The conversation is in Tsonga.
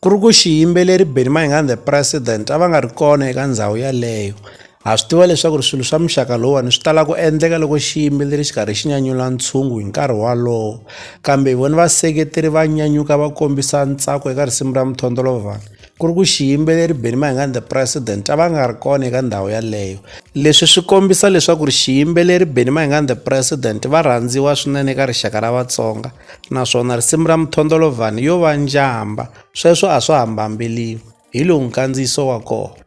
Ku ri ku xiyimbeleri Benny Mayengani the president a va nga ri kona eka ndhawu yaleyo ha swi tiva leswaku ri swilo swa muxaka lowuwani swi tala ku endleka loko xiyimbeleri xi karhi xi nyanyula ntshungu hi nkarhi walowo kambe hi vona vaseketeri va nyanyuka va kombisa ntsako eka risimu ra mintlhontlho ku ri ku xiyimbeleri Benny Mayengani the president a va nga ri kona eka ndhawu yaleyo leswi swi kombisa leswaku ri xiyimbeleri Benny Mayengani the president va rhandziwa swinene eka rixaka ra Vatsonga naswona risimu ra muthondolovhani yo va njhamba sweswo a swa ha mbambeliwi hi lowu nkandziyiso wa kona